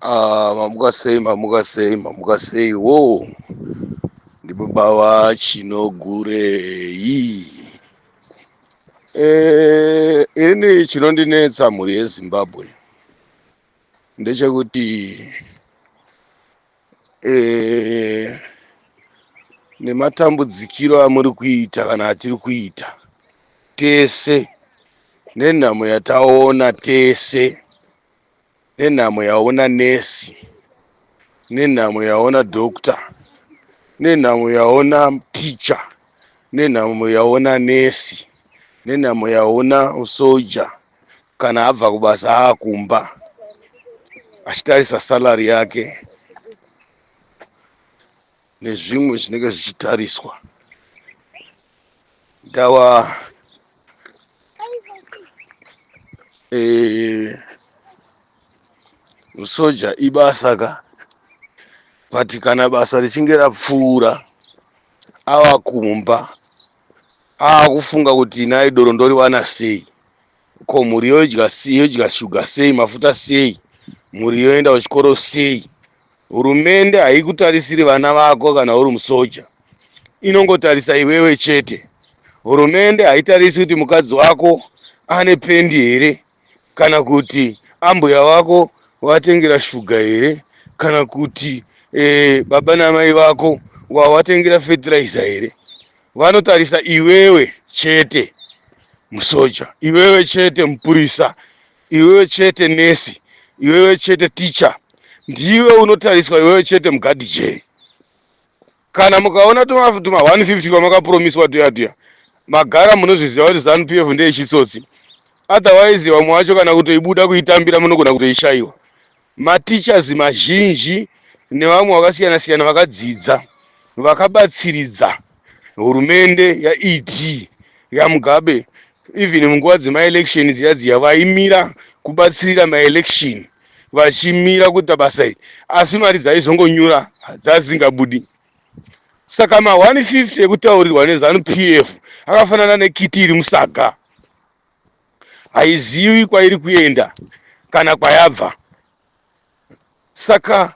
Ah, mamuka sei mamuka sei mamuka sei wo ndibaba vachinogurei Eh, ini chinondinetsa mhuri yezimbabwe ndechekuti eh, nematambudzikiro amuri kuita kana atiri kuita tese nenhamo yataona tese nenhamo yaona nesi nenhamo yaona doctor nenhamo yaona teacher nenhamo yaona nesi nenhamo yaona usoja kana abva kubasa aakumba achitarisa salary yake nezvimwe zvinenge zvichitariswa ndava eh, usoja ibasa ka but kana basa richinge rapfuura ava kumba ava kufunga kuti nhai doro ndoriwana sei ko mhuri yoidya sei yoidya shuga sei mafuta sei mhuri yoenda kuchikoro sei hurumende haikutarisiri vana vako kana uri musoja inongotarisa iwewe chete hurumende haitarisi kuti mukadzi wako ane pendi here kana kuti ambuya wako watengera shuga here kana kuti eh, baba namai vako wawatengera fertilizer here vanotarisa iwewe chete musoja iwewe chete mupurisa iwewe chete nesi iwewe chete ticha ndiwe unotariswa iwewe chete mugadi jee kana mukaona tuma 150 kwamakapromiswa tuya tuya magara munozviziva kuti zanu pf ndeyechitsotsi otherwise vamwe vacho kana kutoibuda kuitambira munogona kutoishaiwa Mateachers mazhinji nevamwe vakasiyana siyana vakadzidza vakabatsiridza hurumende yaED yaMugabe even munguva dzemaelection dziya dziya vaimira kubatsirira maelection vachimira kuita basa iri asi mari dzaizongonyura dzazingabudi saka ma 150 ekutaurirwa neZanu PF akafanana nekiti iri musaga haizivi kwairi kuenda kana kwayabva saka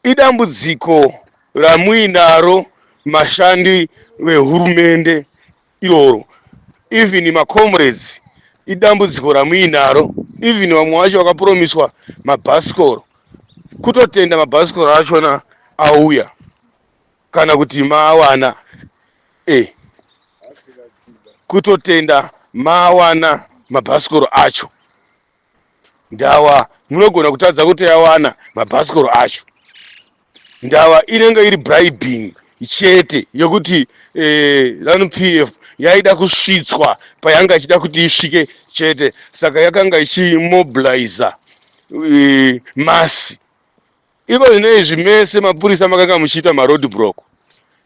idambudziko ramuinaro mashandi vehurumende iroro even macomrades idambudziko ramuinaro even vamwe vacho vakapromiswa mabhasikoro kutotenda mabhasikoro achona auya kana kuti maawana eh kutotenda maawana mabhasikoro acho ndawa munogona kutadza kutoyawana mabhasikoro acho ndawa inenge iri bribing chete yekuti eh, zanu pf yaida kusvitswa payanga ichida kuti isvike chete saka yakanga ichimobiliza eh, masi Iko zvino izvi mese mapurisa makanga muchiita maroad block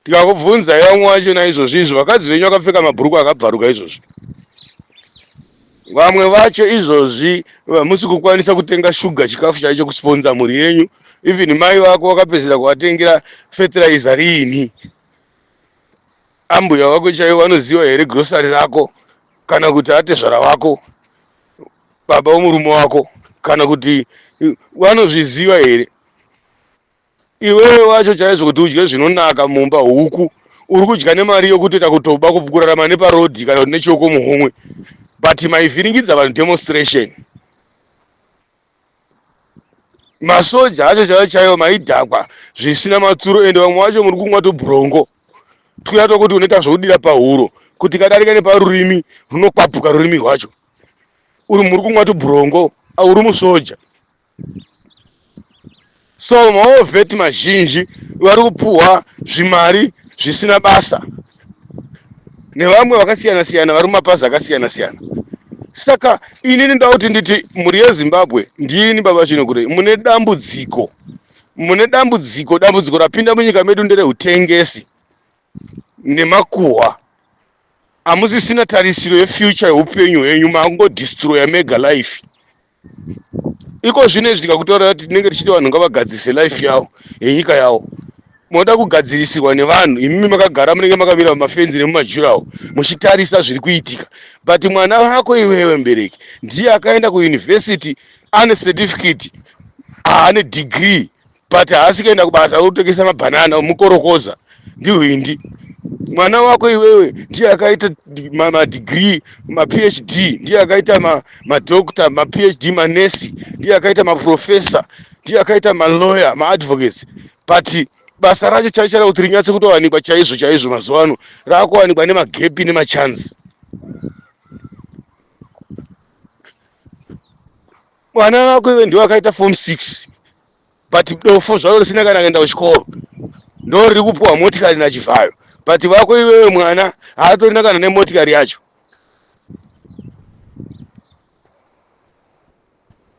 tikakubvunzai vamwe vacho naizvozvi izvo vakadzi venyu vakapfeka mabhurukwa akabvaruka izvozvi vamwe vacho izvozvi vamusi kukwanisa kutenga shuga chikafu chaicho kusponza mhuri yenyu even mai vako vakapedzera kuvatengera fertilizer riini ambuya vako chaivo vanoziva here grocery rako kana kuti atezvara vako baba wemurume wako kana kuti vanozviziva here iwewe wacho chaizvo kuti udye zvinonaka mumba huku uri kudya nemari yokutoita kutoba kurarama neparodhi kana kuti nechioko muhomwe but maivhiringidza vanhu demonstration masoja acho chaiyo chaiyo maidhakwa zvisina matsuro ende vamwe vacho muri kumwa tubhurongo tuya tokuti unoita zvokudira pahuro kuti kadarika neparurimi runokwapuka rurimi rwacho uri muri kumwa tubhurongo auri musoja so maovheti mazhinji vari kupuhwa zvimari zvisina basa nevamwe vakasiyana siyana vari mumapazi akasiyana siyana saka inini ndoda kuti nditi mhuri yezimbabwe ndini baba chinokure mune dambudziko mune dambudziko dambudziko rapinda munyika medu nderehutengesi nemakuhwa amusisina tarisiro yefuture yeupenyu hwenyu mangodestroya mega life iko zvino izvi tikakutaura kuti tinenge tichiti vanhu ngavagadzirise life yavo yenyika yavo moda kugadzirisirwa nevanhu imimi makagara munenge makamira mumafenzi nemumajurawo muchitarisa zviri kuitika but mwana vako iwewe mbereki ndiye akaenda kuyunivhesiti ane certificate aane degree but haasi kuenda kubasa kutengesa mabhanana omukorokoza ndihwindi mwana wako iwewe ndiye akaita madigrii maphd ndiye akaita madokta maphd manesi ndiye akaita maprofesa ndiye akaita malawyer maadvocates but basa racho chaicho ra kuti rinyatse kutowanikwa chaizvo chaizvo mazuva ano raakuwanikwa nemagepi nemachance mwana wako iwe ndiwe akaita form six but dofo zvaro risina kana kuenda kuchikoro ndo riri kupuwa motikari nachivhayo but vako iwewe mwana haatorina kana nemotikari yacho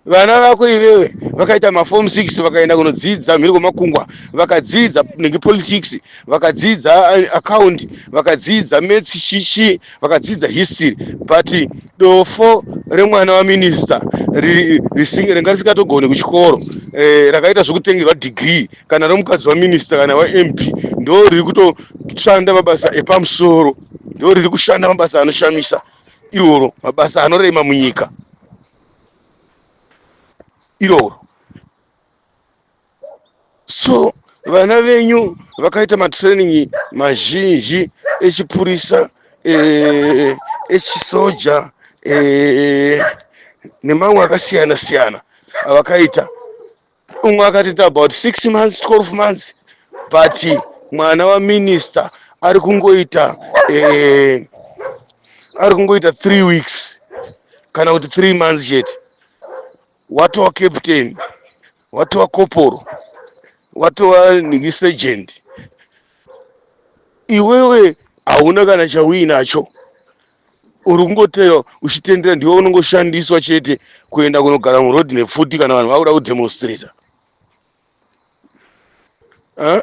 vana vako iwewe vakaita maform six vakaenda kunodzidza mhiri kwemakungwa vakadzidza nenge politics vakadzidza eh, account vakadzidza maths shishi vakadzidza history but dofo remwana waminista ringa risikatogoni kuchikoro eh, rakaita zvekutengerwa degree kana romukadzi waminista kana wamp ndo riri kutoshanda mabasa epamusoro ndo riri kushanda mabasa anoshamisa iroro mabasa anorema munyika iroro so vana venyu vakaita matraining mazhinji echipurisa eh, echisoja eh, nemamwe akasiyana siyana avakaita umwe akatiita about six months 12 months but mwana waminista ari kungoita eh, ari kungoita three weeks kana kuti three months chete watova captain watova koporo watova nhingi sergeant iwewe hauna kana chauinacho uri kungotera uchitendera ndiwe unongoshandiswa chete kuenda kunogara muroad nepfuti kana vanhu vakuda kudemonstrata Eh,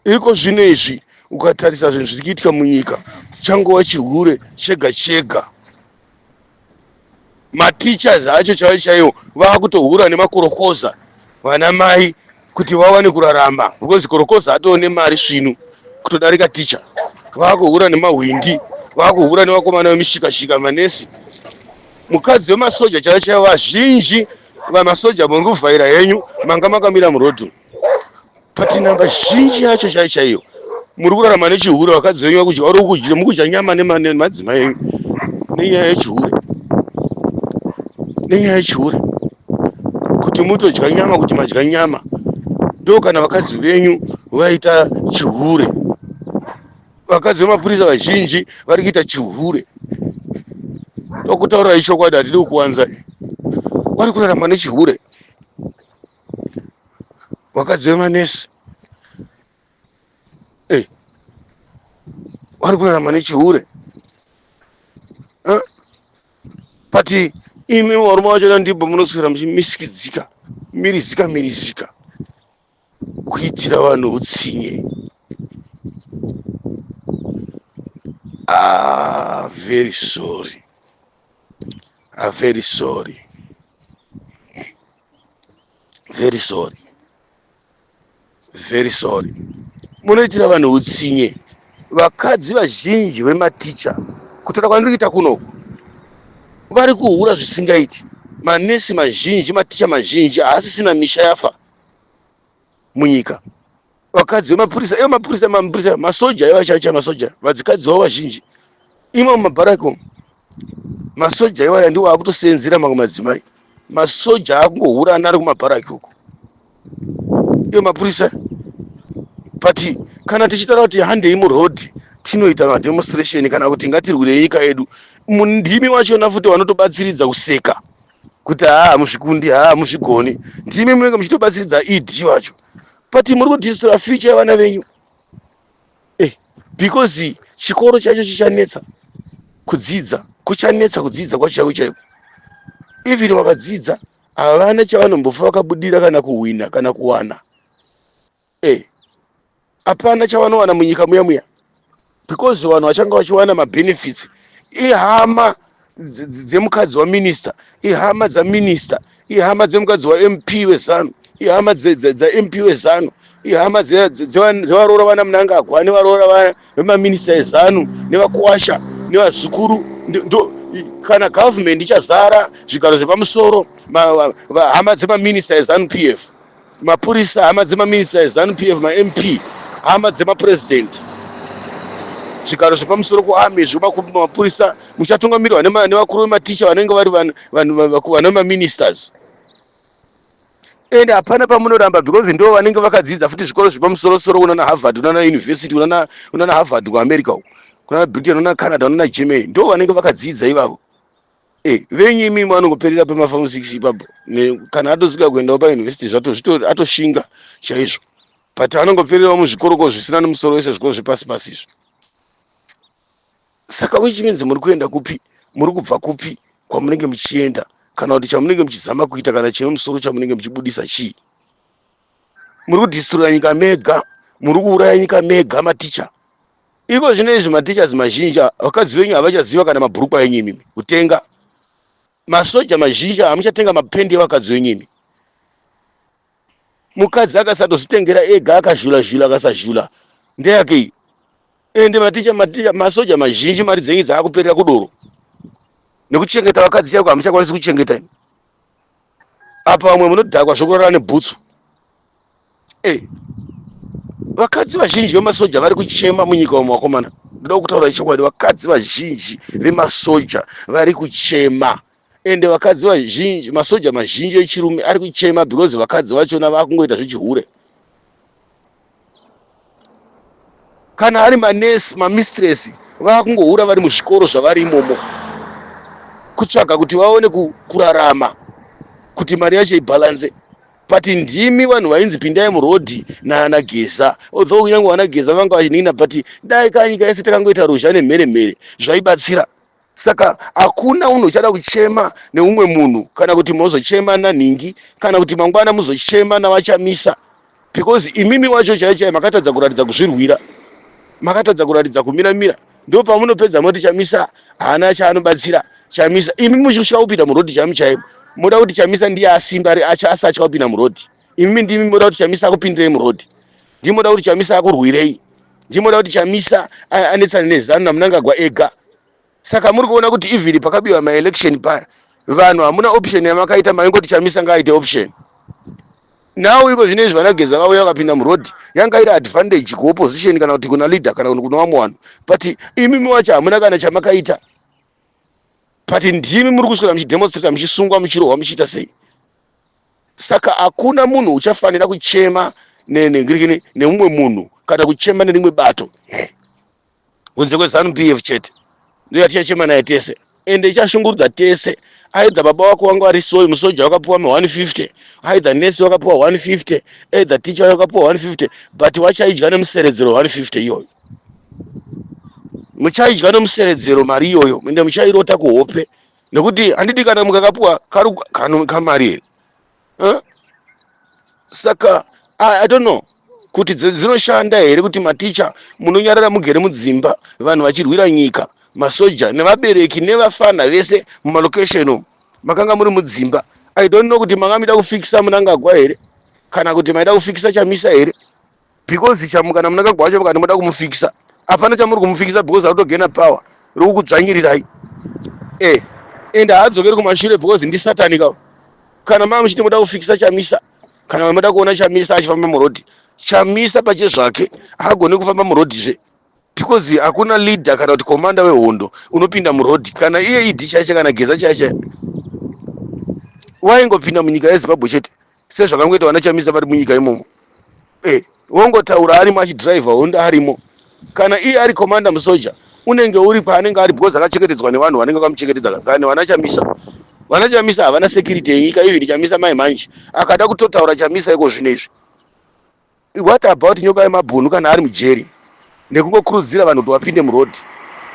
iriko zvino izvi ukatarisa zvinhu zviri kuitika munyika changova chihure chega chega mateachers acho chaivo chaivo vava kutohura nemakorokoza vana mai kuti vawane kurarama because korokoza atoo nemari svinu kutodarika ticha vava kuhura nemahwindi vava kuhura nevakomana vemishikashika manesi mukadzi wemasoja chaivo chaivo vazhinji vamasoja muri kuvhaira henyu manga makamira murodhu but namba zhinji yacho chaiyo chaiyo muri kurarama nechihure vakadzi venyu vakudya vari kukudya mukudya nyama nema- nemadzimai enyu nenyaya yechihure nenyaya yechihure kuti mutodya nyama kuti madya nyama ndo kana vakadzi venyu vaita chihure vakadzi vemapurisa vazhinji vari kuita chihure tokutaurira ichokwadi hatidi kukuwanza vari kurarama nechihure vakadzi vemanesi eh, vari kurarama nechihure but imi varume vacho ndibva munoswera muchimisikidzika mirizika mirizika kuitira vanhu utsinye ah, very sorry ah, very sorry very sorry very sorry munoitira vanhu utsinye vakadzi vazhinji vematicha kutaura kwandiri kuita kunoku vari kuhura zvisingaiti manesi mazhinji maticha mazhinji haasisina misha yafa munyika vakadzi vemapurisa ivo mapurisa mapurisa masoja ivo achacha masoja vadzikadzi vavo vazhinji imo mumabharaki umu masoja iwaya ndiwo akutoseenzera mamwe madzimai masoja akungohurana ari kumabharaki uko ivo mapurisa but kana tichitaura kuti handei murodhi tinoita mademonstration kana kuti ngatirwirei nyika yedu mundimi wachona futi vanotobatsiridza kuseka kuti haa hamuzvikundi haa hamuzvigoni ndimi munenge muchitobatsiridza ed wacho but muri kudistora future yevana venyu eh, because chikoro chacho chichanetsa kudzidza kuchanetsa kudzidza kwacho chaiko chaiko even vakadzidza havana chavanombofa vakabudira kana kuhwina kana kuwana eh apana chavanowana munyika muya muya because vanhu vachanga vachiwana mabenefits ihama dzemukadzi waminista ihama dzaminista ihama dzemukadzi wamp wezanu ihama dzamp wezanu ihama dzevaroora vana munangagwa nevaroora vemaminista ezanu nevakuwasha nevazukuru kana government ichazara zvigaro zvepamusoro hama dzemaminista ezanu p f mapurisa hama dzemaminista ezanu pf mamp hama dzemapurezidenti zvigaro zvepamusoro kuame zvemapurisa muchatungamirwa nevakuru vematicha vanenge vari vane maministers and hapana pamunoramba because ndo vanenge vakadzidza futi zvikoro zvepamusorosoro unana harvard unana university unana harvard kuamerica uko kunana britain unana canada unana germany ndo vanenge vakadzidza ivavo Eh, venyu imi vanongoperera pemafamu six ipapo Ne- kana atosika kuendawo pauniversity zvato zvito- atoshinga chaizvo but anongopererawo muzvikoroko zvisina nemusoro wese zvikoro zvepasi pasi izvo saka which means muri kuenda kupi muri kubva kupi kwamunenge muchienda kana kuti chamunenge muchizama kuita kana chine musoro chamunenge muchibudisa chii muri kudhistrura nyika mega muri kuuraya nyika mega maticha iko zvino izvi matichas mazhinji vakadzi venyu havachaziva kana mabhurukwa enyu imimi kutenga masoja mazhinji hamuchatenga mapendi evakadzi venyu imi mukadzi akasatozvitengera ega akazhula zhula akasazhula ndeyake iyi ende maticha maticha masoja mazhinji mari dzenyu dzaakuperera kudoro nekuchengeta vakadzi chaiko hamuchakwanisi kuchengeta imi apa vamwe munodhakwa zvokurara nebhutsu e eh, vakadzi vazhinji vemasoja vari kuchema munyika umo vakomana ndoda kutaura chokwadi vakadzi vazhinji vemasoja vari kuchema ende vakadzi vazhinji masoja mazhinji echirume ari kuchema because vakadzi vachona vakungoita zvechihure kana ari manesi mamistress vakungohura vari muzvikoro zvavari imomo kutsvaga kuti vaone kurarama kuti mari yacho ibhalanze but ndimi vanhu vainzi pindai murodhi naana geza although kunyange vana geza vanga vachinina but dai kanyika yese takangoita ruzha nemhere mhere zvaibatsira saka hakuna unhu uchada kuchema neumwe munhu kana kuti mozochema nanhingi kana kuti mangwana muzochema navachamisa because imimi wacho chai chai makatadza kuratidza kuzvirwira makatadza kuratidza kumira mira ndo pamunopedza moti chamisa haana chaanobatsira chamisa imi muchisvika kupinda murodhi chaimu chaimu moda kuti chamisa ndiye asimba ri acha asatya kupinda murodhi imi ndimi moda kuti chamisa akupindirei muroad ndimi moda kuti chamisa akurwirei ndimi moda kuti chamisa anetsane nezanu namunangagwa ega saka muri kuona kuti even pakabiwa maelection paya vanhu hamuna option yamakaita maingoti chamisa ngaaite option now iko zvine izvi vanageza vauya vakapinda muroad yanga iri advantage kuopposition kana kuti kuna leader kana kuti kuna vamwe vanhu but imimi wacho hamuna kana chamakaita but ndimi muri kuswera muchidemonstrata muchisungwa muchirohwa muchiita sei saka hakuna munhu uchafanira kuchema nengirikini nemumwe munhu kana kuchema nerimwe bato kunze kwezanu p f chete ndo yatichachema naye tese ende ichashungurudza tese aidha baba wako wangu ari soyi musoja wakapiwa ma 150 aidha nesi wakapiwa 150 aidha ticha wayo wakapiwa 150 but wachaidya nemuseredzero 150 iyoyo muchaidya nemuseredzero mari iyoyo ende muchairota kuhope nekuti handiti kana mukakapuwa kari kano kamari here Huh? saka I, i don't know kuti dzi- dzinoshanda here kuti maticha munonyarara mugere mudzimba vanhu vachirwira nyika masoja nevabereki nevafana vese mumalocation umu makanga muri mudzimba i don't know kuti manga mida kufikisa munangagwa here kana kuti maida kufikisa chamisa here because chamu kana munakagwa wacho vakati moda kumufikisa hapana chamuri kumufikisa because arutogena power rikukudzvanyirirai e eh, and haadzokeri kumashure because ndisatanika kana maa muchiti moda kufikisa chamisa kana moda kuona chamisa achifamba murodhi chamisa pache zvake haagone kufamba murodhi zve because hakuna leader kana kuti komanda wehondo unopinda murodhi kana iye idi chaiche kana geza chaiche waingopinda munyika yezimbabwe chete sezvakangoita vana chamisa vari munyika imomo eh, wongotaura arimo achidriver hondo arimo kana iye ari commander musoja unenge uri paanenge ari because akachengetedzwa nevanhu vanenge vakamuchengetedza kakani vana chamisa vana chamisa havana security yenyika even chamisa mai manje akada kutotaura chamisa iko zvino izvi What about nyoka yemabhunu kana ari mujeri nekungokurudzira vanhu kuti wapinde muroad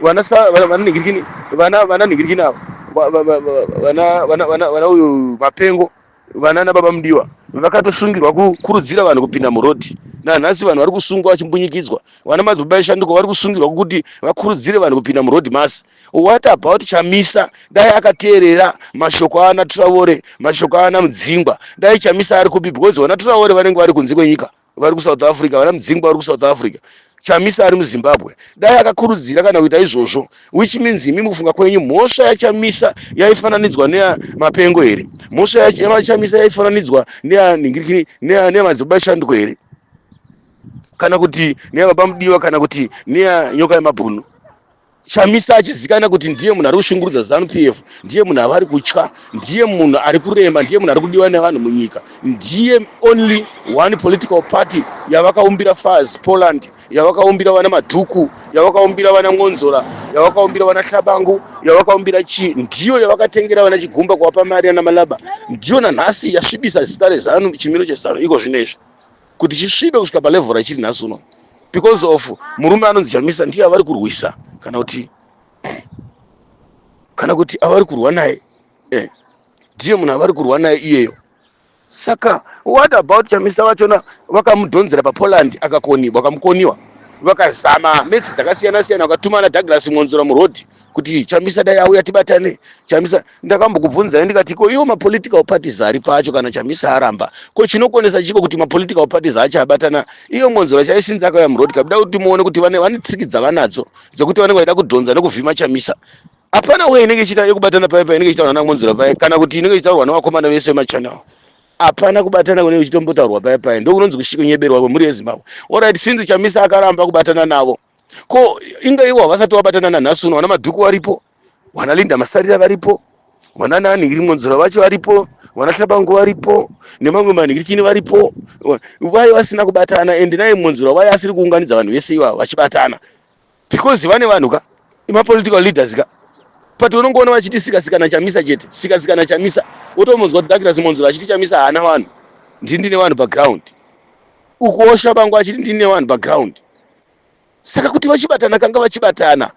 vananhingirikini vana vananhingirikini avo vana uyu mapengo vana nababa mudiwa vakatosungirwa kukurudzira vanhu kupinda muroad nanhasi vanhu vari kusungwa vachimbunyikidzwa vana madzibaba eshanduko vari kusungirwa kuti vakurudzire vanhu kupinda muroad masi What about Chamisa dai akateerera mashoko aana Traore mashoko aana Mudzingwa dai Chamisa ari kupi because vana Traore vanenge vari kunze kwenyika vari kuSouth Africa vana Mudzingwa vari kuSouth Africa Chamisa ari muZimbabwe dai akakurudzira kana kuita izvozvo which means imi mukufunga kwenyu mhosva yaChamisa yaifananidzwa neya Mapengo here mhosva yaChamisa yaifananidzwa neya Nhingirikiri neya neya Madzibaba Shanduko here kana kuti neya Baba Mudiwa kana kuti neya Nyoka yeMabhunu chamisa achizikanwa kuti ndiye munhu ari kushungurudza zanu p f ndiye munhu avari kutya ndiye munhu ari kurema ndiye munhu ari kudiwa nevanhu munyika ndiye only one political party yavakaumbira faz poland yavakaumbira vana madhuku yavakaumbira vana mwonzora yavakaumbira vana hlabangu yavakaumbira chii ndiyo yavakatengera vana chigumba kuvapa mari ana malaba ndiyo nanhasi yasvibisa zita rezanu chimiro chezanu iko zvino izvi kuti chisvibe kusvika palevel rachiri nhasi uno because of murume anonzi chamisa ndiye avari kurwisa kana kuti kana kuti avari kurwa naye eh, ndiye munhu avari kurwa naye iyeyo saka what about chamisa vachona vakamudhonzera papoland akakoniwa vakamukoniwa vakazama metsi dzakasiyana siyana vakatuma ana douglas mwonzora murodhi kuti chamisa dai auya tibatane chamisa ndakambokubvunzai ndikati ko iwo mapolitical parties ari pacho kana chamisa aramba ko chinokonesa chiko kuti mapolitical parties acho abatana iyo ngonzora chaishinzi akauya muroad kabuda kuti muone kuti vane vane triki dzavanadzo dzekuti vanenge vaida kudhonza nekuvhima chamisa hapana uye inenge ichiita yekubatana paye painenge ichitaurwa namonzira paye kana kuti inenge ichitaurwa nevakomana vese vemachannel hapana kubatana kune kuchitombotaurwa paye paye ndokunonzi kunyeberwa kwemhuri yezimbabwe orit since chamisa akaramba kubatana navo ko inga iwo havasati vabatana nanhasi uno vana madhuku varipo vana linda masarira varipo vana nani iri monzora vacho varipo vana hlabango varipo nemamwe manhirikini varipo Wa- vaye vasina kubatana ende naye monzora vaye asiri kuunganidza vanhu vese ivavo vachibatana because vane vanhu ka imapolitical leaders ka but unongoona vachiti sikasikana chamisa chete sikasikana chamisa wotomonzwa douglas monzora achiti chamisa haana vanhu ndini ndine vanhu paground ukuosha bangu achiti ndine vanhu paground saka kuti vachibatana kanga vachibatana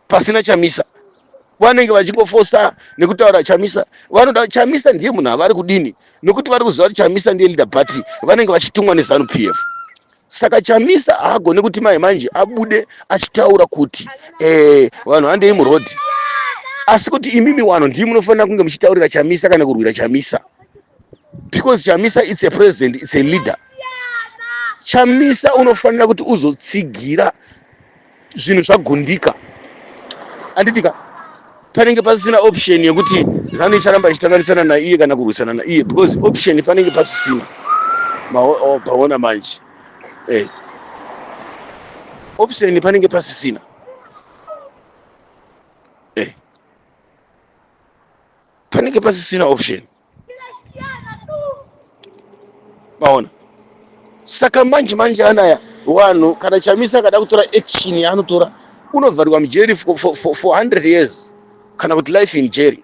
pasina chamisa vanenge vachingofosa nekutaura chamisa vanoda chamisa ndiye munhu avari kudini nekuti vari kuziva kuti chamisa ndiye leader party vanenge vachitumwa nezanu p f saka chamisa haagone kuti mai manje abude achitaura kuti eh, vanhu handei murodhi asi kuti imimi wano ndii munofanira kunge muchitaurira chamisa kana kurwira chamisa because chamisa its a president its a leader chamisa unofanira kuti uzotsigira zvinhu zvagundika anditika panenge pasisina option yekuti zanu icharamba ichitanganisana naiye kana kurwisana naiye because option panenge pasisina paona manje eh. option panenge pasisina eh. panenge pasisina option maona saka manje manje anaya wanhu kana chamisa akada kutora action yaanotora unovharirwa mujeri for, for, for, for 100 years kana kuti life in jeri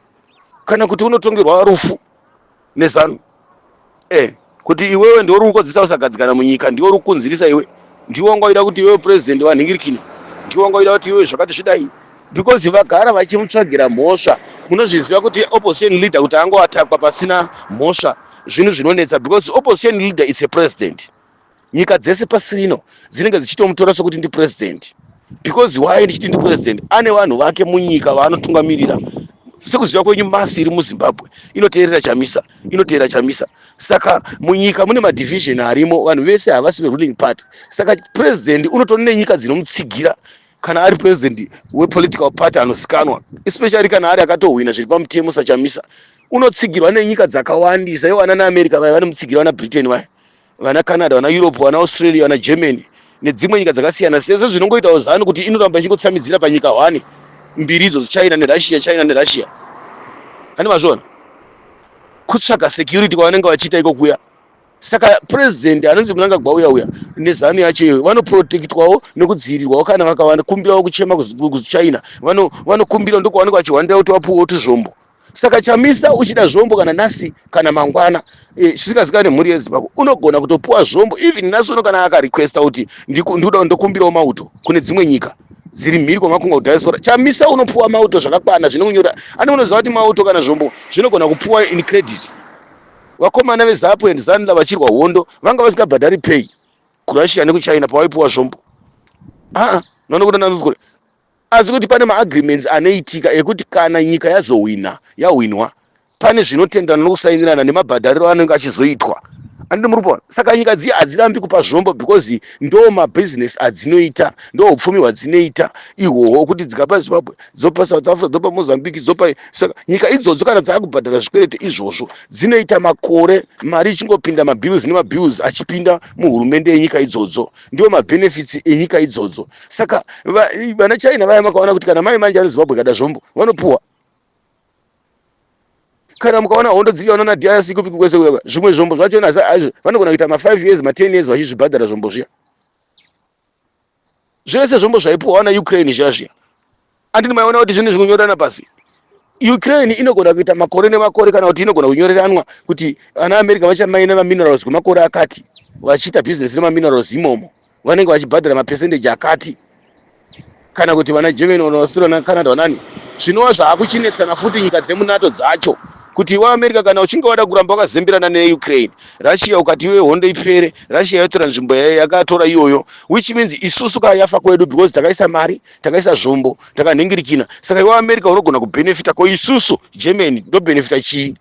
kana kuti unotongerwa rufu nezanu eh. kuti iwewe ndiwe uri kukodzesa kusagadzikana munyika ndiwe uri kukunzirisa iwe ndiwe wanga waida kuti iwewe purezidhendi vanhingirikini ndiwe wanga waida kuti iwewe zvakati zvidai because vagara vachimutsvagira mhosva munozviziva kuti opposition leader kuti angoatakwa pasina mhosva zvinhu zvinonetsa because opposition leader its a president nyika dzese pasi rino dzinenge dzichitomutora sokuti ndipurezidendi because why ndichiti ndipurezidendi ane vanhu vake munyika vaanotungamirira sekuziva kwenyu masi iri muzimbabwe inoteerera chamisa inoteera chamisa saka munyika mune madivision arimo vanhu vese havasi veruling party saka president unotori nenyika dzinomutsigira kana ari president wepolitical party anosikanwa especially kana ari akatohwina zviri pamutemo sachamisa unotsigirwa nenyika dzakawandisa iwo ana neamerica vaya vanomutsigirwa nabritain vaya vana canada vana europe vana australia vana germany nedzimwe nyika dzakasiyana sezvo zvinongoitawo zanu kuti inoramba ichingotsambidzira panyika hwani mbiri idzo china nerussia china nerussia ani mazviona kutsvaga security kwavanenge vachiita iko kuya saka president anonzi munangagwa uya uya nezanu yacho iyoyo vanoprotectwawo nekudzivirirwawo kana vakakumbirawo kuchema kuchina vanokumbirawo ndokwavanenge vachihwandira kuti vapuwewo tuzvombo saka chamisa uchida zvombo kana nhasi kana mangwana eh, zvisikazikane mhuri yezimbabwe unogona kutopuwa zvombo even nhasi uno kana akarequesta kuti ndikuda ndokumbirawo mauto kune dzimwe nyika dziri mhiri kwamakunga kudiaspora chamisa unopuwa mauto zvakakwana zvine kunyora ani unoziva kuti mauto kana zvombo zvinogona kupuwa in credit vakomana vezapu and zanla vachirwa hondo vanga vasikabhadhari pay kurussia nekuchina pavaipuwa zvombo aa ah, ah, nanokuda nanzukure asi kuti pane maagreements anoitika ekuti kana nyika yazohwina yahwinwa pane zvinotenderana nokusainirana nemabhadhariro anenge achizoitwa anditi muri kuona saka nyika dziya hadzirambi kupa zvombo because ndo mabhizinesi adzinoita ndo upfumi hwadzinoita ihwohwo kuti dzikapa zimbabwe dzopa south africa dzopa mozambique dzopa saka nyika idzodzo kana dzaakubhadhara zvikwerete izvozvo dzinoita makore mari ichingopinda mabills nemabills achipinda muhurumende yenyika idzodzo ndiwo mabenefits enyika idzodzo saka vana china vaya makaona kuti kana mai manje ari zimbabwe kada zvombo vanopuwa kana mukaona hondo dziri vanoona drc kupi kwese kuya zvimwe zvombo zvacho nasa aizvo vanogona kuita ma5 years ma10 years vachizvibhadhara zvombo zviya zvese zvombo zvaipuwa wana ukraine zviya zviya andini maiona kuti zvinhu zvikunyorana pasi ukraine inogona kuita makore nemakore kana kuti inogona kunyoreranwa kuti ana america vachamaina maminerals kwemakore akati vachiita business nemaminerals imomo vanenge vachibhadhara mapercentage akati kana kuti vana germany vana australia vana canada vanani zvinova zvaakuchinetsana futi nyika dzemunato dzacho kuti iwe america kana uchinge wada kuramba wakazembirana neukraine russia ukati iwe hondo ipere russia yotora nzvimbo yakatora iyoyo which means isusu ka yafa kwedu because takaisa mari takaisa zvombo takanhingirikina saka iwe america unogona kubenefita ko isusu germany ndobenefita chii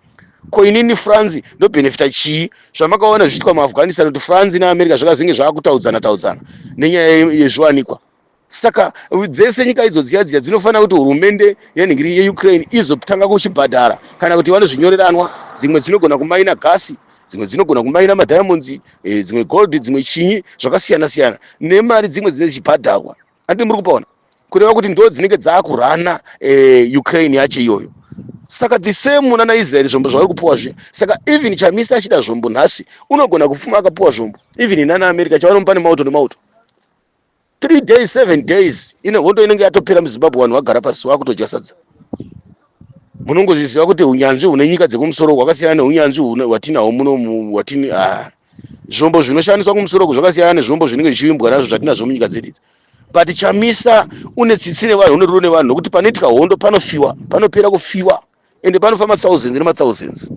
ko inini france ndobenefita chii zvamakaona zvichiitwa muafghanistan kuti france neamerica zvakazenge zvakutaudzana taudzana nenyaya yezviwanikwa saka dzese nyika idzo dziya dziya dzinofanira kuti hurumende yenhingiri yeukraine izotanga kuchibhadhara kana kuti vanozvinyoreranwa dzimwe dzinogona kumaina gasi dzimwe dzinogona kumaina madiamonds eh, dzimwe gold dzimwe chinyi zvakasiyana siyana nemari dzimwe dzine dzichibhadharwa Andi muri kupaona kureva kuti ndo dzinenge dzakurana eh, Ukraine yacho iyoyo saka the same muna na Israel zvombo zvauri kupuwa zviya saka even chamisa achida zvombo nhasi unogona kufuma akapuwa zvombo even nana America chavanomupa nemauto nemauto three days seven days ine hondo inenge yatopera muzimbabwe vanhu vagara pasi vakutodya sadza munongozviziva kuti unyanzvi hune nyika dzekumusoro hwakasiyana neunyanzvi hwatinahwo muno hwatini ah. zvombo zvinoshandiswa kumusoro uku zvakasiyana nezvombo zvinenge zvichivimbwa nazvo zvatinazvo munyika dzedu idzi but chamisa une tsitsi nevanhu une rudo nevanhu nokuti panoitika hondo panofiwa panopera kufiwa ende panofa mathousands nemathousands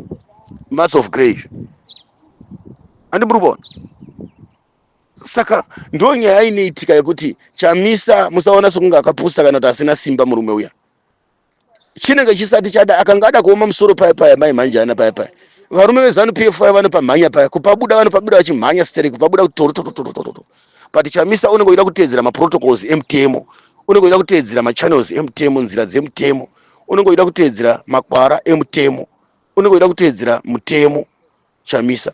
mass of grave handi muri kuona saka ndo nyaya inoitika yekuti chamisa musaona sekunge akapusa kana kuti asina simba murume uya chinenge chisati chada akanga ada kuoma musoro paya paya mai mhanjana paya paya varume vezanu p f vanopamhanya paya kupabuda vanopabuda vachimhanya sterek kupabuda kutorotototototoo but chamisa unenge uchida kuteedzera maprotocols emutemo unenge uchida kuteedzera machannels emutemo nzira dzemutemo unenge uchida kuteedzera makwara emutemo unenge uchida kuteedzera mutemo chamisa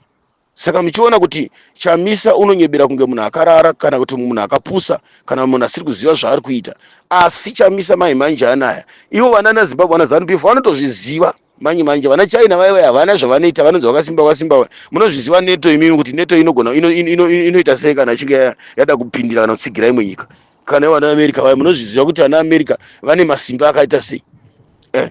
saka muchiona kuti chamisa unonyebera kunge munhu akarara kana kuti munhu akapusa kana munhu asiri kuziva zvaari kuita asi chamisa mai manje anaya ivo vana nazimbabwe vana zanupf vanotozviziva manje manje vana china vaive havana zvavanoita vanonzi vakasimba vakasimba munozviziva neto imimi kuti neto inogona inoita sei kana achinge yada kupindira kana kutsigira imwe nyika kana vana america vaya munozviziva kuti vana america vane masimba akaita sei eh.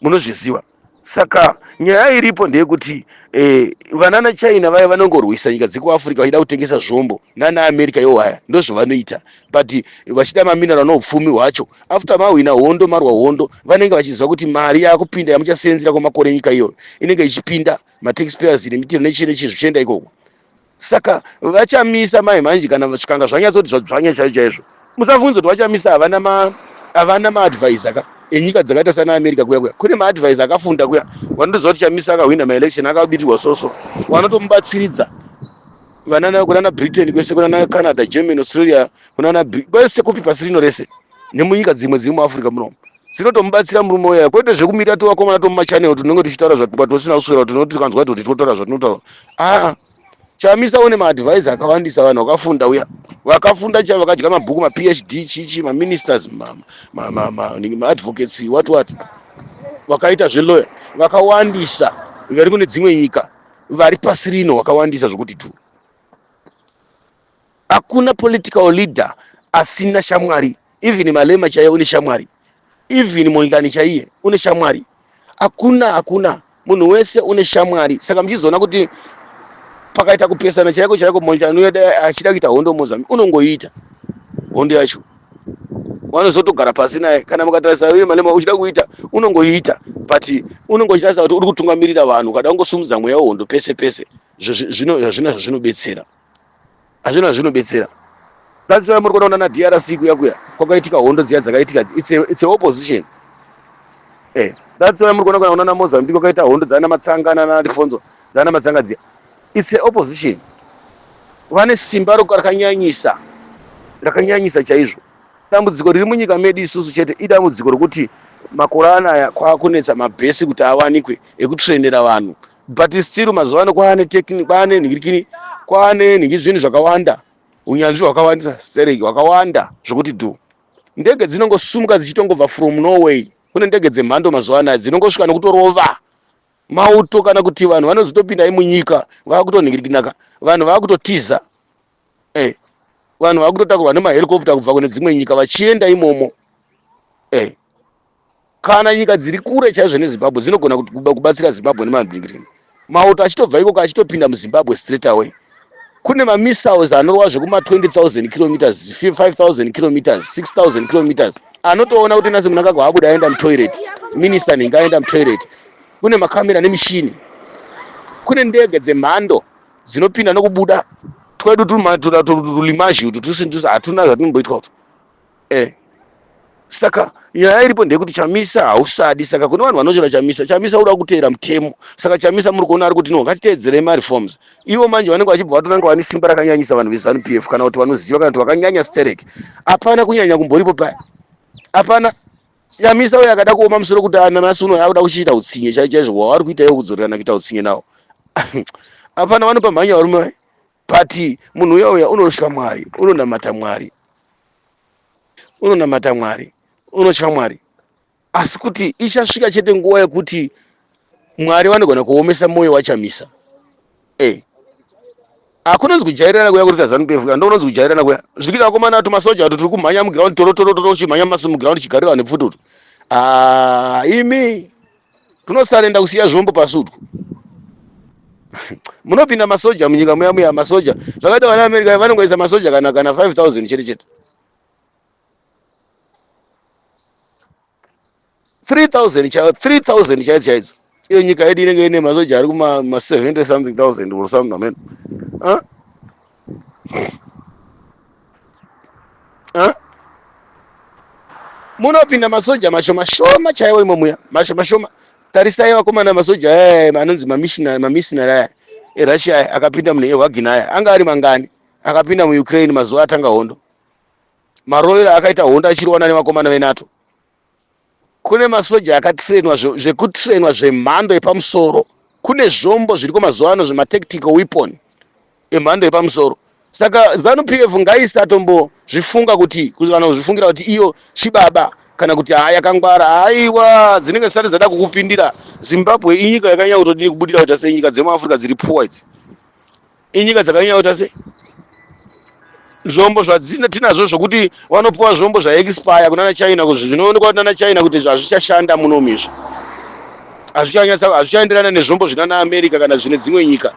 munozviziva saka nyaya iripo ndeyekuti eh, vanana china vaya vanongorwisa nyika dzekuafrica vachida kutengesa zvombo nana america yo waya ndozvavanoita but vachida maminero anoupfumi hwacho after mahwina hondo marwa hondo vanenge vachiziva kuti mari yakupinda yamuchaseenzera kwemakore nyika iyoyo inenge ichipinda mataxpayers nemitero nechii nechii zvichienda ikoko saka vachamisa mai manje kana zvikanga zvanyatsoti zvadzvanya chaizvo chaizvo musavhunze kuti vachamisa havana ma havana maadvisor ka enyika dzakaita sana america kuya kuya kune maadvisor akafunda kuya vanotoziva kuti chamisa akahwina maelection akabitirwa soso vanotomubatsiridza vanana kunana britain kwese kunana canada germany australia kunana Bri- kwese kupi pasi rino rese nemunyika dzimwe dziri muafrica munomu dzinotomubatsira murume uya kwete zvekumira tivakomana tomumachanel tinenge tichitaura zvatukwa tosina kuswera tinoti tikanzwa toti tinotaura zvatinotaura aa chamisa une maadvise akawandisa vanhu vakafunda uya vakafunda chavo vakadya mabhuku maphd chichi maministers maadvocates what what vakaita zveloya vakawandisa vari kune dzimwe nyika vari pasi rino vakawandisa zvokuti tu Hakuna political leader asina shamwari. Even Malema chaiye une shamwari. Even Mondlani chaiye une shamwari. Hakuna, hakuna. Munhu wese une shamwari. Saka mchizoona kuti pakaita kupesana chaiko chaiko Mondlani achida kuita hondo Mozambique unongoita hondo yacho. Wanozotogara pasi naye kana mukatarisa uye Malema uchida kuita unongoita but unongo chitarisa kuti uri kutungamirira vanhu kada kungosumudza mweya wehondo pese pese zvino zvazvinobetsera hazvina zvinobetsera that's why muri kuona na drc kuya kuya kwakaitika hondo dziya dzakaitika it's a, it's a opposition eh that's why muri kuona kana unana mozambique kwakaita hondo dzana matsanga nana lifonzo dzana matsanga dziya it's a opposition vane simba rakanyanyisa rakanyanyisa chaizvo dambudziko riri munyika medu isusu chete idambudziko rokuti makore anaya kwakunetsa mabhesi kuti awanikwe ekutrendera vanhu but still mazuva ano kwaane tekini kwaane nhirikini kwaane nhingi zvinhu zvakawanda unyanzvi hwakawandisa sereki hwakawanda zvokuti dhu ndege dzinongosumuka dzichitongobva from norway kune ndege dzemhando mazuva anaya dzinongosvika nokutorova mauto kana kuti vanhu vanozotopinda imunyika vava kutonhingirikinaka vanhu vava kutotiza eh, vanhu vakutotakurwa nemahelicopter kubva kune dzimwe nyika vachienda imomo eh, kana nyika dziri kure chaizvo nezimbabwe dzinogona kubatsira zimbabwe nemabingirini mauto achitobva ikoko achitopinda muzimbabwe straight away kune mamissiles anorova zvekuma 20000 kilometers 5000 kilometers 6000 kilometers anotoona kuti nasi munangagwa abuda aenda mutoilet minista nhinga aenda mutoilet kune makamera nemishini kune ndege dzemhando dzinopinda nokubuda twedu tulimazhi utu tusindusa hatuna zvatumboitwa utu eh saka nyaya iripo ndeyekuti chamisa hausadi saka kune vanhu vanochera chamisa chamisa uda kuteera mutemo saka chamisa muri kuona ari kuti no ngatiteedzerei mareforms ivo manje vanenge vachibva vatonanga vane simba rakanyanyisa vanhu vezanu p f kana kuti vanoziva kana kuti vakanyanya sterek hapana kunyanya kumboripo paya hapana chamisa uyo akada kuoma musoro kuti ananasi uno akuda kuchiita utsinye chai chaizvo waari kuita iwo kudzorerana kuita utsinye nawo hapana vanopa mhanya varume vai but munhu uya uya unotya mwari unonamata mwari unonamata mwari unotya mwari asi kuti ichasvika chete nguva yekuti mwari vanogona kuomesa mwoyo wachamisa eh hakunonzi kujairirana kuya kuri kazanu kf ka ndokunonzi kujairirana kuya zvikita vakomana atu masoja atu tiri kumhanya muground torotorotoro uchimhanya masi muground chigarira vane pfuti utu ah, imi tunosarenda kusiya zvombo pasi utwu munopinda masoja munyika muya muya masoja zvakaita vana america vanongoisa masoja kana kana 5000 chete chete 3000 chaiyo 3000 chaidzo chaidzo iyo nyika yedu inenge ine masoja ari kuma 70 something thousand or something amen huh? huh? munopinda masoja mashoma shoma chaiwo imo muya mashoma shoma tarisai vakomana masoja aya eh, anonzi mamisinari aya erussia aya akapinda mune ewagina aya anga ari mangani akapinda muukraine mazuva atanga hondo maroyal akaita hondo achiriwana nevakomana venato kune masoja akatrainwa zvekutrainwa zvemhando yepamusoro kune zvombo zviriko mazuva ano zvematactical weapon emhando yepamusoro saka zanu p f ngaisatombozvifunga kuti kana kuzvifungira kuti iyo chibaba kana kuti haa yakangwara haiwa dzinenge zisati dzada kukupindira zimbabwe inyika yakanyanya kutodii kubudira kuita senyika dzemuafrica dziri pfuwa idzi inyika dzakanyanya kuita sei zvombo zvatinazvo zvokuti vanopiwa zvombo zvaexpire kunana china kuzvi zvinoonekwa kunana china kuti hazvichashanda muno mizvi hazvichanyatsa hazvichaenderana nezvombo zvinana america kana zvine dzimwe nyika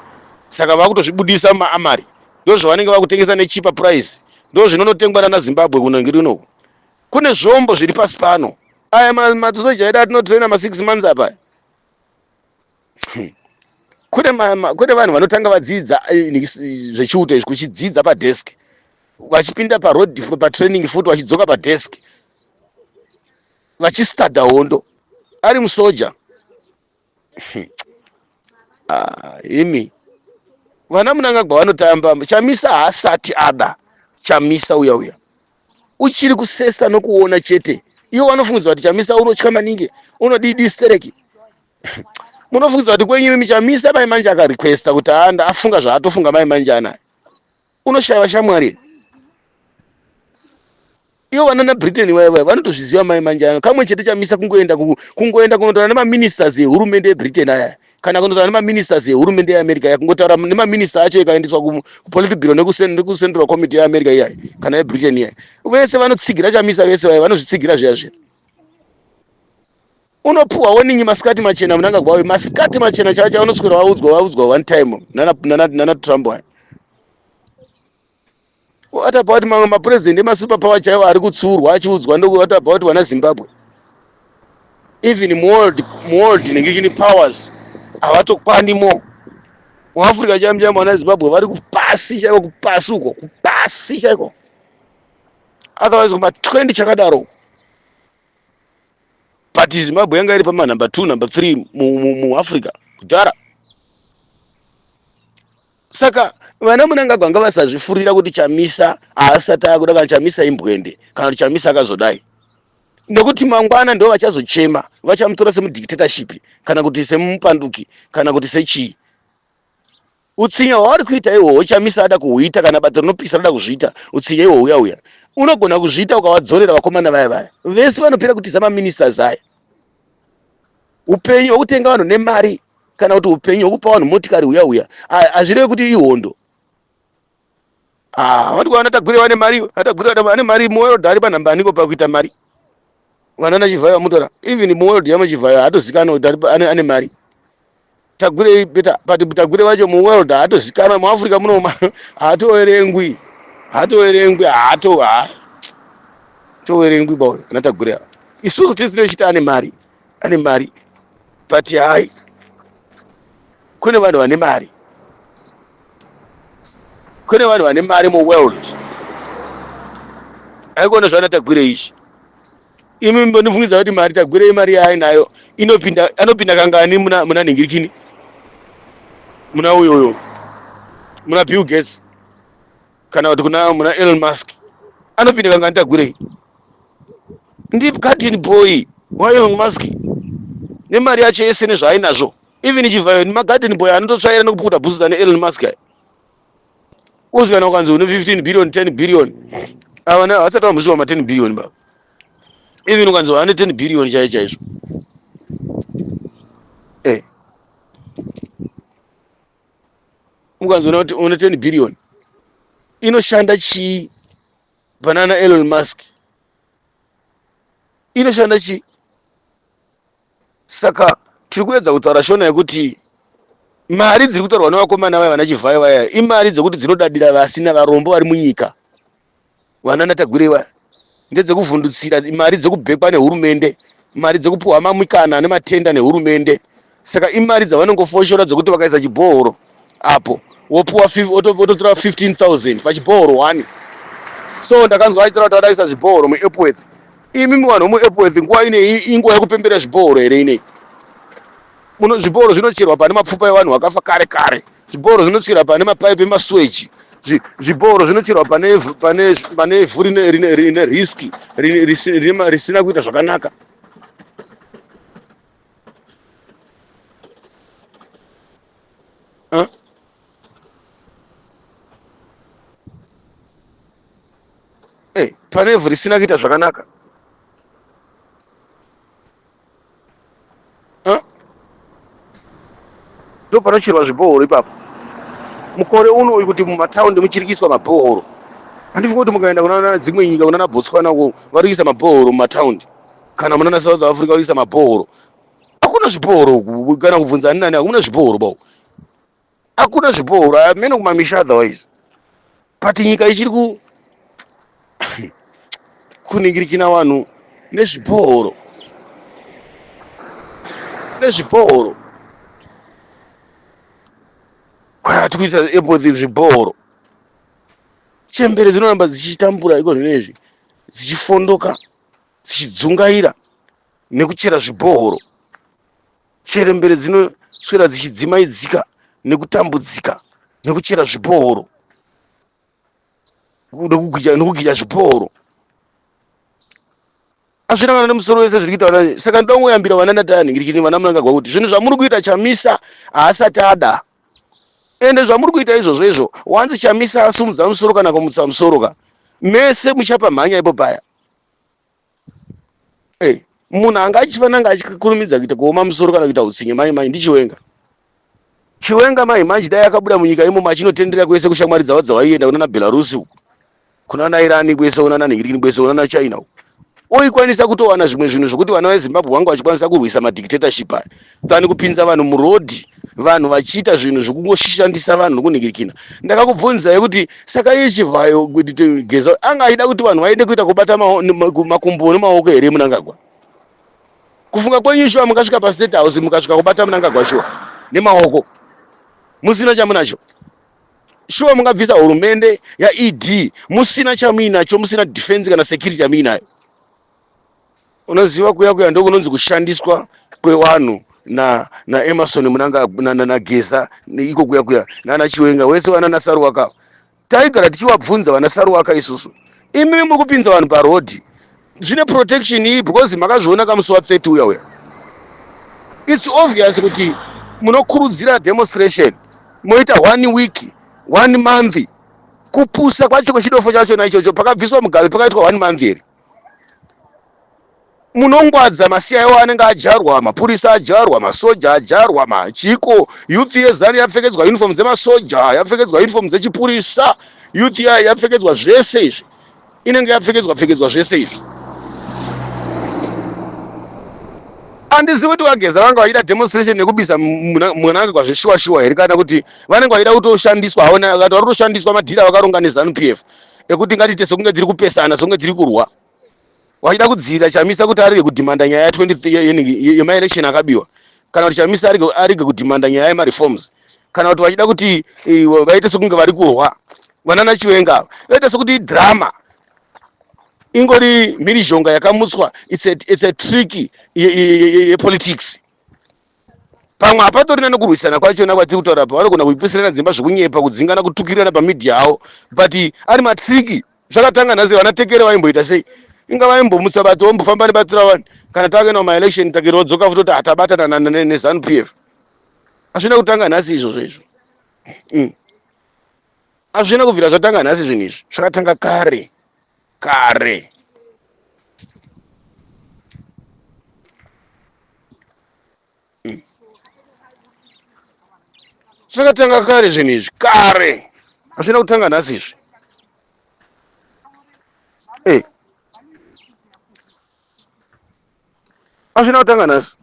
saka vakutozvibudisa mumaamari ndo zvavanenge vakutengesa nechipa price ndo zvinonotengwa nana zimbabwe kuno ngiri unoku kune zvombo zviri pasi pano aya masoja edu atinotraina masix months apa kune kune vanhu vanotanga vadzidza eh, zvechiuto izvi kuchidzidza padesk vachipinda paroad patraining futi vachidzoka padesk vachistada hondo ari musoja ah, imi vana munangagwa vanotamba chamisa haasati ada chamisa uya uya uchiri kusesa nokuona chete iwo vanofungidzwa kuti chamisa unotya maningi unodii distereki munofungidzira kuti kwenyu imi chamisa mai manje akarequesta kuti aanda afunga zvaatofunga mai manje anaye unoshaiwa shamwari ivo vanana britain vaiva vanotozviziva mai manje ano kamwe chete chamisa kungoenda kungoenda kunotaura nemaministers ehurumende yebritain aya kana kunotaura nemaministers ehurumende yeamerica iya kungotaura nemaminista acho ikaendeswa kupolitic bureau nekucentral committee yeamerica iyayi kana yebritain iyayi vese vanotsigira chamisa vese vaiva vanozvitsigira zviya zviya unopuhwa woningi masikati machena munanga gwawe masikati machena chaiwo chaunoswera waudzwa waudzwa one time nana trump aya what about mamwe mapurezidendi emasuper power chaiwo ari kutsuurwa achiudzwa ndo what about vana zimbabwe even muworld muworld inenge chini powers havatokwani mo muafrica chaimu chaimu vana zimbabwe vari kupasi chaiko kupasi uko kupasi chaiko otherwise kuma 20 chakadaro uko but zimbabwe yanga iri pamanumber two number three muafrica kudhara saka vana munangagwa anga vasazvifurira kuti chamisa haasati akuda kana chamisa imbwende kana kuti chamisa akazodai nekuti mangwana ndo vachazochema vachamutora semudictatorship kana kuti semupanduki kana kuti sechii Utsinye hwauri kuita ihwohwo Chamisa ada kuhuita kana bato rinopisa rada kuzviita utsinye ihwohwo uya uya. Unogona kuzviita ukavadzorera vakomana vaya vaya. Vese vanopera kutiza maministers aya. Upenyu hwekutenga vanhu nemari kana kuti upenyu hwekupa vanhu motikari uya uya hazvireve kuti ihondo. Ah, wati kwana tagwire wane mari, atagwire wana ane mari mu world ari panhamba aniko pakuita mari. Vana na Chivhayo mutora. Even mu world yama Chivhayo atozikana kuti ane ane mari. Tagwire beta but tagwire wacho mu world atozikana mu Africa muno atoerengwi. Atoerengwi ato ha. Toerengwi bawo anatagwire. Isusu tisinochita ane mari. ane mari but hai kune vanhu vane mari kune vanhu vane mari muworld aikuona zvaana tagwire izvi imi mbonifungidza kuti mari tagwire imari yaainayo inopinda anopinda kangani muna, muna nhingirikini muna uyoyo muna bill gates kana kuti kuna muna elon musk anopinda kanga nditagurei ndip garden boy waelon musk nemari yacho yese nezvaainazvo even chivhayo nemagarden boy anototsvaira nekupukuta bhusu dzane elon musk aya uzi kana ukanzi une 15 billion 10 billion avana havasati vambosvika ma 10 billion baba even ukanzi vane 10 billion chaiyo chaizvo ukanzoona kuti une 10 billion inoshanda chii panana elon musk inoshanda chii saka tiri kuedza kutaura shona yekuti mari dziri kutaurwa nevakomana vaya vana chivhayo vaya imari dzekuti dzinodadira vasina varombo vari munyika vanana tagwirei vaya ndedzekuvhundutsira mari dzekubhekwa nehurumende mari dzekupiwa mamikana nematenda nehurumende saka imari dzavanongofoshora dzekuti vakaisa chibhohoro apo wopiwa wototora 15000 pachibhohoro one so ndakanzwa achitira kuti vadaisa zvibhohoro muepworth imi muvanhu vemuepworth nguva inei inguva yekupembera zvibhohoro here inei zvibhohoro zvinocherwa pane mapfupa evanhu vakafa kare kare zvibhoro zvinotsvira pane mapaipi emasweji zvibhoro zvinotsvirwa pane ivhu rine riski risina kuita zvakanaka pane ivhu risina kuita zvakanaka hmm? ndopanocherwa zvibhohoro ipapo mukore uno uyu kuti mumataundi muchirikiswa mabhohoro handifi kuti mukaenda kunana dzimwe nyika kunana botswana uko varikisa mabhohoro mumataundi kana munana south africa varikisa mabhohoro hakuna zvibhohoro kana kubvunza ani nani hakuna zvibhohoro bao akuna zviporo amene kumamisha otherwise but nyika ichiri ku kuningirikina vanhu nezviporo nezviporo kwati kuisa epoti zviporo chembere dzinoramba dzichitambura iko zvinezvi dzichifondoka dzichidzungaira nekuchera zvibhohoro Chembere dzinoswera dzichidzimaidzika nekutambudzika nekuchera zvipooro nekugija zvipooro azvina vana nemusoro wese zviri kuita vana saka ndoda kungoyambira vana ndatani ngirikini vana munangagwa kuti zvinhu zvamuri kuita chamisa haasati ada ende zvamuri kuita izvozvo izvo wanzi chamisa asumudza musoro kana kumutsa musoro ka mese muchapa mhanya ipo paya hey, munhu anga achifanira anga achikurumidza kuita kuoma musoro kana kuita utsinye mai mai ndichiwenga chiwenga mai manje dai akabuda munyika imomo achinotendera kwese kushamwari dzavo dzavaienda kunana belarusi uku kunana irani kwese unana nigirigini kwese unana china uku oikwanisa kutowana zvimwe zvinhu zvokuti vana vezimbabu vangu vachikwanisa kurwisa madictatorship aya tani kupinza vanhu murodhi vanhu vachiita zvinhu zvekungoshandisa vanhu nokunhingirikina ndakakubvunzai kuti saka iye chivhayo kuti geza anga aida kuti vanhu vaende kuita kubata makumbo nemaoko here munangagwa kufunga kwenyu shuwa mukasvika pastate house mukasvika kubata munangagwa shuwa nemaoko musina chamunacho shuwa mungabvisa hurumende yaed musina chamuinacho musina defense kana security yamuinayo unoziva kuya kuya ndokunonzi kushandiswa kwevanhu na na Emerson Munanga na, na, na Geza iko kuya kuya nana Chiwenga wese vana na Saruwaka taigara tichiwabvunza vana Saruwaka isusu imi muri kupinza vanhu pa road zvine protection iyi because makazviona kamusi wa 30 uya uya it's obvious kuti munokurudzira demonstration moita one week one month kupusa kwacho kwechidofo chacho na ichocho pakabviswa mugabe pakaitwa one month here munongwadza masiya iwo anenge ajarwa mapurisa ajarwa masoja ajarwa machiko youth yezanu yapfekedzwa uniform dzemasoja yapfekedzwa uniform dzechipurisa youth yayo yapfekedzwa zvese izvi inenge yapfekedzwa pfekedzwa zvese izvi handizi kuti vageza vanga vaida demonstration nekubisa mwanake kwazveshuwa shuwa here kana kuti vanenge vaida kutoshandiswa haona akati vari kutoshandiswa madhira vakaronga nezanu p f ekuti ngatiite sekunge tiri kupesana sekunge tiri kurwa vachida kudzivirira chamisa kuti arege kudhimanda nyaya ya 20 yemaelection akabiwa kana kuti chamisa arege kudhimanda nyaya yemareforms kana kuti vachida kuti eh, vaite sekunge vari kurwa vanana chiwenga ava vaita sekuti idrama ingori mhirizhonga yakamutswa it's a, it's a trick yepolitics ye, ye, ye pamwe hapatorina nekurwisana kwachona kwatiri kutaura pa vanogona kuipisirana dzimba zvekunyepa kudzingana kutukirirana pamidhia avo but ari matriki zvakatanga nhasi vana tekere vaimboita sei inga vaimbomutsa bati vombofamba nebatira wani kana takaenda kumaelection takere vodzoka futi kuti hatabatana nezanu p f hazvina kutanga nhasi izvozvo izvo mm. hazvina kubvira zvatanga nhasi zvinhu izvi zvakatanga kare kare mm. zvakatanga kare zvinhu izvi kare hazvina kutanga nhasi izvi azvina kutanga nhasi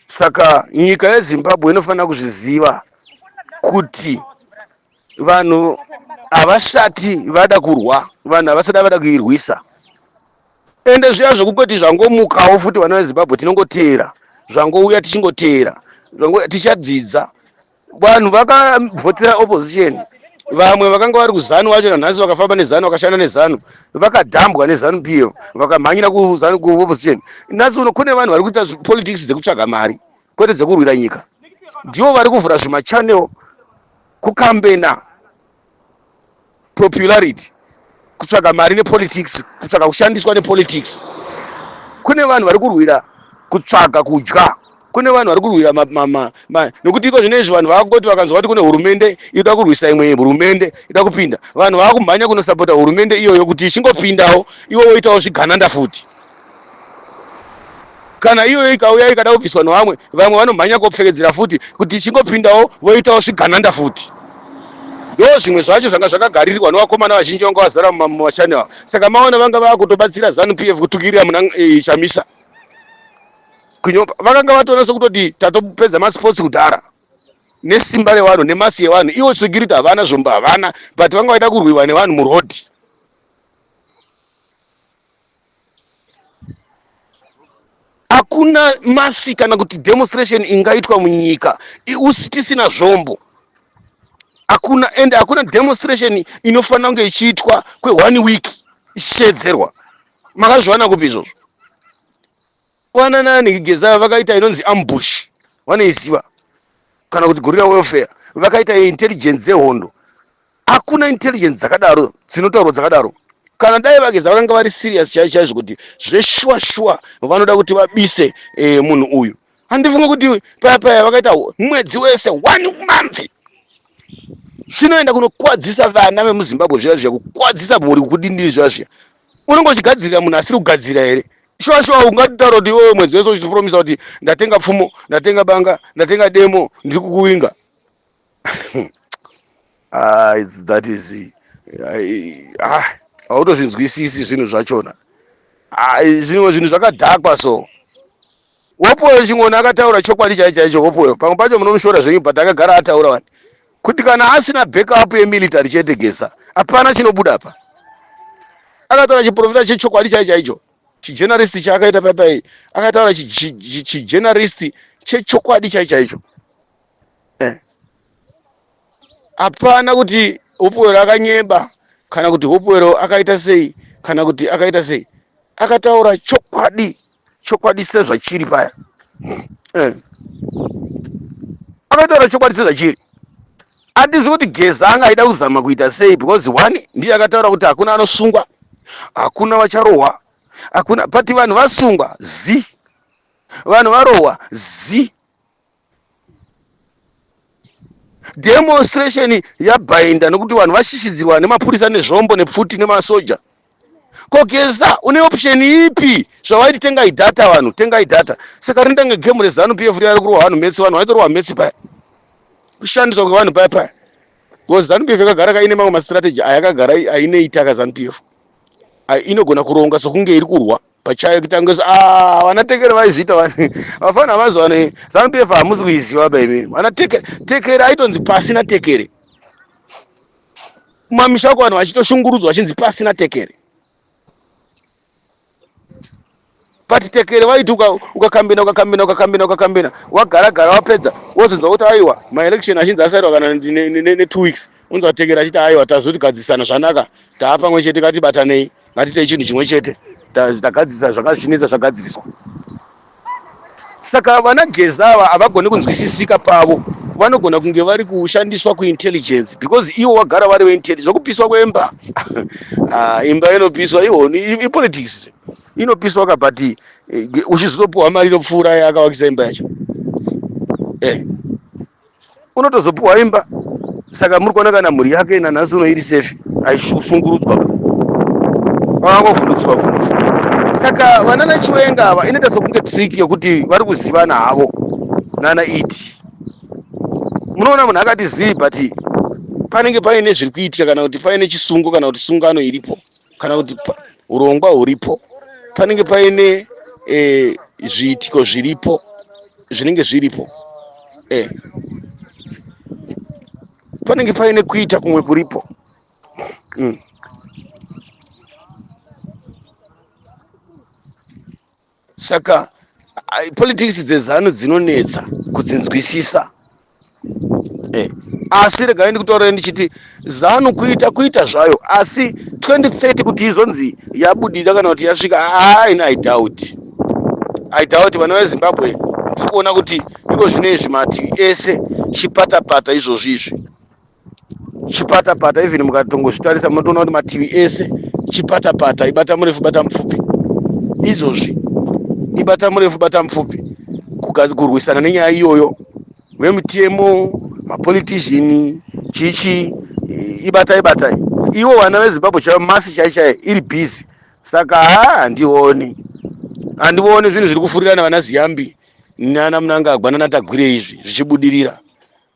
saka nyika yezimbabwe inofanira kuzviziva kuti vanhu havasati vada kurwa vanhu havasati vada kuirwisa ende zviya zvekukoti zvangomukawo futi vana vezimbabwe tinongoteera zvangouya tichingoteera tichadzidza vanhu vakavhotera opposition vamwe vakanga vari kuzanu vacho nanhasi vakafamba nezanu vakashanda nezanu vakadhambwa nezanu p f vakamhanyira kuzanu kuopposition nhasi uno kune vanhu vari kuita politics dzekutsvaga mari kwete dzekurwira nyika ndivo vari kuvhura zvimachannel kukambena popularity kutsvaga mari nepolitics kutsvaga kushandiswa nepolitics kune vanhu vari kurwira kutsvaga kudya kune vanhu vari kurwira nokuti iko zvino izvi vanhu vakoti vakanzwa kuti kune hurumende ida kurwisa imwe hurumende ida kupinda vanhu vakumhanya kunosapota hurumende iyoyo kuti ichingopindawo iwo woitawo zvigananda futi kana iyoyo ikauya ikada kubviswa nevamwe vamwe vanomhanya kopfekedzera futi kuti ichingopindawo voitawo zvigananda futi ndo zvimwe zvacho zvanga zvakagaririrwa nevakomana vazhinji vanga vazara mumachani ava saka maona vanga vava kutobatsira zanu p f kutukirira muna e, chamisa kunyopa vakanga vatonasa kutoti tatopedza masports kudhara nesimba revanhu nemasi yevanhu ivo security havana zvombo havana but vanga vaida kurwiwa nevanhu murodhi hakuna masi kana kuti demonstration ingaitwa munyika tisina zvombo hakuna and hakuna demonstration inofanira kunge ichiitwa kweone week ichishedzerwa makazviwana kupi izvozvo kuwanana nekigeza vakaita inonzi ambush vanoiziva kana kuti gorilla welfare vakaita intelligence dzehondo hakuna intelligence dzakadaro dzinotaurwa dzakadaro kana dai vageza vakanga vari serious chaizo chaizvo kuti zveshuwa shuwa vanoda kuti vabise eh, munhu uyu handifunge kuti paya paya vakaita mwedzi wese one month zvinoenda kunokwadzisa vana vemuzimbabwe zviya zviya kukwadzisa mhuri kudindiri zviya zviya unenge uchigadzirira munhu asiri kugadzira here shuwa shuwa ungataura kuti iwewe mwedzi wese uchipromisa kuti ndatenga pfumo ndatenga banga ndatenga demo ndiri kukuwinga ah, that is ah, hautozvinzwisisi zvinhu zvachona ah, zvimwe zvinhu zvakadhakwa so Hopewell Chingoni akataura chokwadi chaicho chaicho. Hopewell pamwe pacho munomushora zvenyu but akagara ataura wani kuti kana asina backup yemilitary chete Geza hapana chinobuda apa. Akataura chiprofita chechokwadi chaicho chaicho chijenaristi chaakaita paipai akataura chijenaristi chechokwadi chaicho chaicho. hapana kuti hopwero akanyeba kana kuti hopwero akaita sei kana kuti akaita sei akataura chokwadi chokwadi sezvachiri paya eh. akataura chokwadi sezvachiri handizvi kuti geza anga aida kuzama kuita sei because one ndiye akataura kuti hakuna anosungwa hakuna vacharohwa hakuna but vanhu vasungwa zi vanhu varohwa zi demonstration yabhainda nokuti vanhu vashishidzirwa nemapurisa nezvombo nepfuti nemasoja ko geza une option ipi zvawaiti tengai data vanhu tengai data saka rinoita kunge gemu rezanu pf riya rikurohwa vanhu metsi vanhu vaitorohwa metsi paya kushandiswa kwevanhu paya paya bcause zanu pf yakagara kaine mamwe mastrategy ayakagara aineitaka zanu pf inogona kuronga sokunge iri kurwa pachayo kutangisa ah vana tekere vaizviita vani vafana havazi vane zanu pf hamusi kuiziva ba imi vana tekere tekere aitonzi pasina tekere kumamisha uko vanhu vachitoshungurudzwa vachinzi pasina tekere but tekere vaiti ukakambina ukakambina ukakambina ukakambina wagara gara wapedza wozonzwa kuti aiwa maelection achinzi asairwa kana netwo weeks unzwa tekere achiti aiwa tazoti gadzisana zvanaka taapamwe chete katibatanei ngatiite chinhu chimwe chete tagadzirisa zvakazvinetsa zvagadziriswa saka vana geza ava havagone kunzwisisika pavo vanogona kunge vari kushandiswa kuintelligence because ivo vagara vari veintelligence zvokupiswa kwemba ah, imba inopiswa ihoni ipolitics inopiswa ka but eh, uchizotopiwa mari inopfuura yakavakisa imba yacho eh. unotozopiwa imba saka muri kuona kana mhuri yake nanhasi uno iri safe aishungurudzwa vakangovhundutswa vhundutswa saka vana nachiwenga ava inoita sokunge trick yekuti vari kuzivana havo nana iti munoona munhu akati zii but panenge paine zviri kuitika kana kuti paine chisungo kana kuti sungano iripo kana kuti urongwa huripo panenge paine e, zviitiko zviripo zvinenge zviripo e, panenge paine kuita kumwe kuripo mm. saka politics dzezanu dzinonetsa kudzinzwisisa eh, asi regai ndikutaurira ndichiti zanu kuita kuita zvayo asi 2030 kuti izonzi yabudira kana kuti yasvika haina ah, idhauti idhauti vana vezimbabwe tiri kuona kuti iko zvino izvi mativi ese chipatapata izvozvi izvi chipatapata even mukatongozvitarisa munotoona kuti mativi ese chipatapata ibata murefu bata mupfupi izvozvi ibata murefu bata mupfupi kurwisana nenyaya iyoyo vemutemo mapolitizhini chichi ibatai batai ivo vana vezimbabwe chaivo masi chai chai iri bhizi saka ha handioni handioni zvinhu zviri kufurirana vana ziyambi nana munangagwa nanatagwire izvi zvichibudirira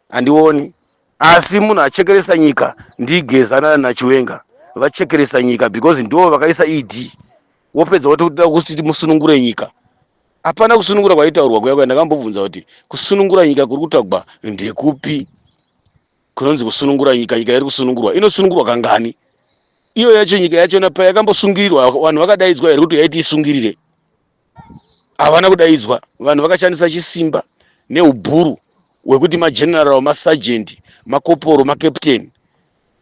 handioni asi munhu achekeresa nyika ndigezana nachiwenga vachekeresa nyika because ndivo vakaisa ed wopedza woti kuda kuti musunungure nyika hapana kusunungura kwaitaurwa kuya kuya ndakambobvunza kuti kusunungura nyika kuri kutagwa ndekupi kunonzi kusunungura nyika nyika iri kusunungurwa inosunungurwa kangani iyo yacho nyika yachona payakambosungirirwa vanhu vakadaidzwa here kuti yaiti isungirire havana kudaidzwa vanhu vakashandisa chisimba neubhuru hwekuti mageneral masagent makoporo macaptain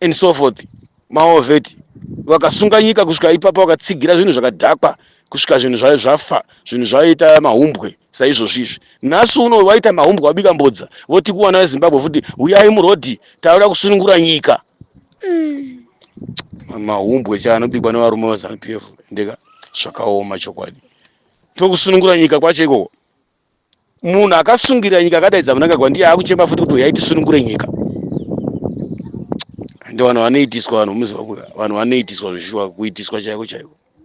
and so forth maoveti vakasunga nyika kusvika ipapa vakatsigira zvinhu zvakadhakwa kusvika zvinhu zvayo zvafa zvinhu zvayoita mahumbwe saizvozvi izvi nhasi uno vaita mahumbwe vabika mbodza voti kuwana vezimbabwe futi huyai murodhi tauda kusunungura nyika mm. mahumbwe cha anobikwa nevarume vazanu p f ndeka zvakaoma chokwadi tokusunungura nyika kwacho ikoko munhu akasungirira nyika akadaidza munangagwa ndiye akuchema futi kuti uyai tisunungure nyika ende vanhu vanoitiswa vanhu muziva kuya vanhu vanoitiswa zvishuwa kuitiswa chaiko chaiko